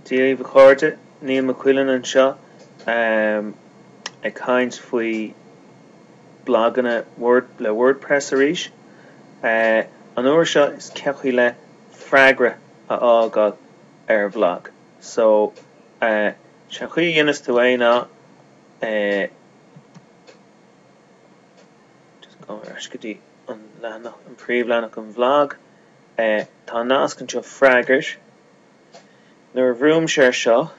Dhaoibh a chairde, Niall Mac Uidhilin anseo ag caint faoi blaganna le WordPress arís. An uair seo is cén chaoi le freagra a fhágáil ar bhlag. So, is é an chaoi a dhéanas tú é ná just gabh ar ais go dtí an leathanach, an príomhleathanach, an bhlag. e Tá nasc anseo freagair Nuair a bhrúimse ar seo,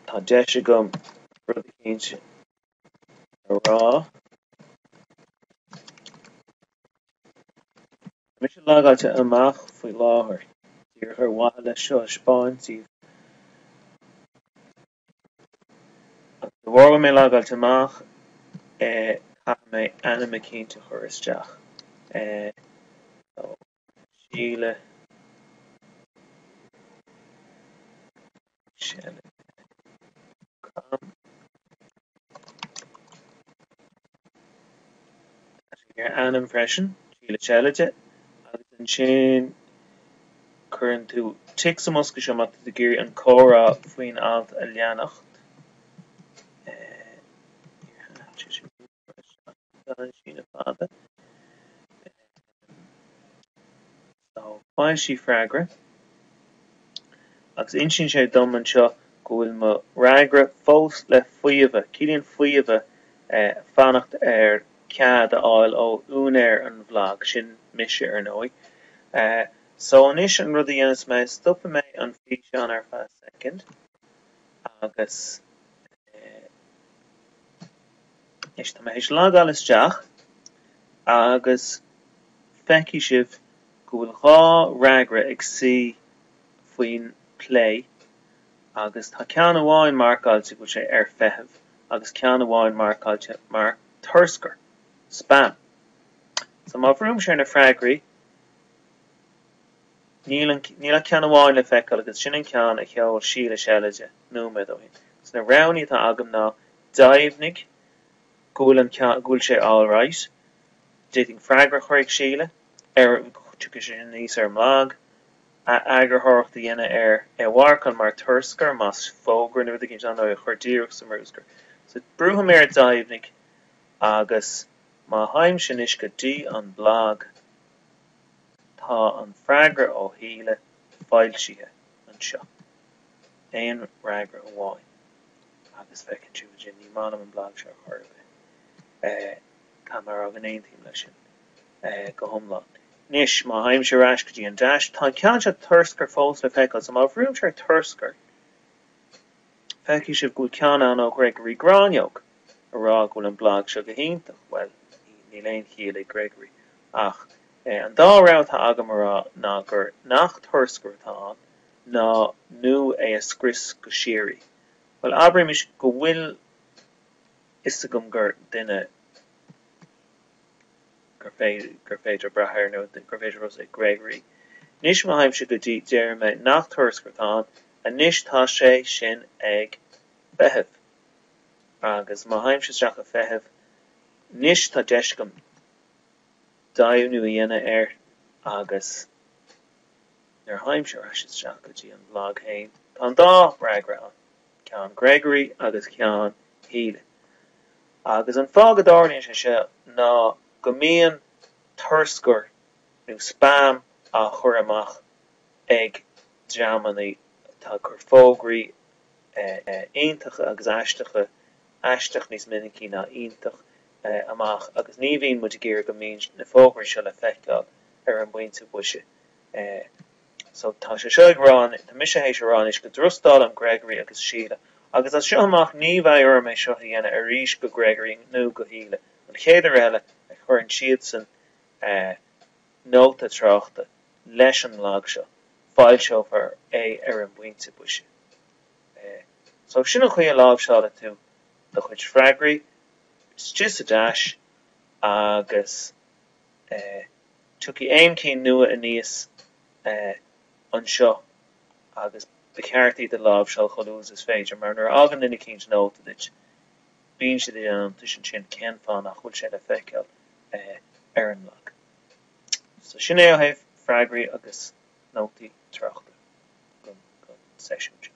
tá deis agam rud eicínt a rá. Tá mise logáilte amach faoi láthair Díreach ar mhaithe leis seo a 'speáint daoibh, Agus de bharr go bhfuil mé logáilte amach caithfidh mé ainm eicínt a chur isteach. Ó, Síle ag seilide. com. Agus ainm freisin, Síle Seilide, agus ansin cuireann tú tic sa mbosca seo má tá tú ag iarraidh an comhrá faoin alt a leanacht. Tá an síneadh fada. Só foilsigh freagra. Agus insíonn sé dom anseo go bhfuil mo fhreagra fós le faomhadh. Ciallaíonn faomhadh fanacht ar cead a fháil ó úinéir an bhlag, sin mise, ar ndóigh. Só anois an rud a dhéanas mé, stopfaidh mé an físeán ar feadh soicind agus. Anois tá mé théis logáil isteach agus feicfidh sibh go bhfuil dhá fhreagra ag suí faoin plé agus tá ceann amháin marcáilte go bhfuil sé ar feitheamh agus ceann amháin marcáilte mar turscar, spam. So má bhrúimse ar na freagraí níl an níl ach ceann amháin le feiceáil agus sin an ceann a sheol Síle Seilide nóiméad ó shin. So na roghanna atá agam ná Deimhnigh go bhfuil an ceann, go bhfuil sé alright. D'fhéadfainn freagra a chur ag Síle ar, tiocfaidh sé sin aníos ar an mblag, a eagarthóireacht a dhéanamh air, é a mharcáil mar turscar, más fógra nó rud eicínt ann, nó é a chur díreach sa mbruscar. So, brúfaidh mé ar Deimhnigh agus má théimse anois go dtí an mblag, tá an freagra ó Shíle foilsithe anseo. Aon fhreagra amháin. agus feiceann sibh ansin é. Ní maith liom an blag seo ar chor ar bith. Tá mé ag rá aontaím leis sin go hiomlán. Anois, má théimse ar ais go dtí an deais, tá an ceann seo turscair fós le feiceáil, so má bhrúimse ar turscair, feicfidh sibh go bhfuil ceann ann ó Ghregory Gráinneog a rá go bhfuil an blag seo go hiontach. Bhuel, níl aon chiall ag Gregory, ach an dá rogha atá agam a rá ná gur nach turscar atá ann ná nó é a scrios go síoraí. Bhuel, abraimis go bhfuil a fhios agam gur duine gur féidir brath air, nó gur féidir trust é Gregory. Anois má théimse go dtí, déarfaidh mé nach turscar atá ann. Anois tá sé sin ag feitheamh. Agus má théimse isteach ag feitheamh, anois tá deis agam deimhniú a dhéanamh air agus nuair a théimse ar ais isteach go dtí an blag féin, tá an dá fhreagra ann, ceann Gregory agus ceann Shíle. Agus an fáth go dtarlaíonn sé seo ná go mbíonn turscar nó spam á chur amach ag dreamannaí atá ag cur fógraí iontacha agus aisteacha, aisteach níos minicí ná iontach, amach agus ní bhíonn muid ag iarraidh go mbíonn na fógraí seo le feiceáil ar an bpointe boise. é. So tá sé seo ag rá, tá mise th'éis a rá anois go dtrustálaim Gregory agus Síle agus as seo amach ní bheidh orm é seo a dhéanamh arís do Gregory nó do Shíle an chéad uair eile a chuireann siadsan nóta tráchta leis an mblag seo, foilseofar é ar an bpointe boise. So sin an chaoi a láimhseálann tú do chuid freagraí, istigh sa deais agus. Tiocfaidh aon chinn nua aníos anseo agus ba cheart iad a láimhseáil chomh luath is féidir, mar nuair a fhágann duine eicínt nóta duit, bíonn siad ag déanamh iontais ansin cén fáth nach bhfuil sé le feiceáil ar an mblag. So sin é ó thaobh freagraí agus nótaí tráchta don seisiún seo.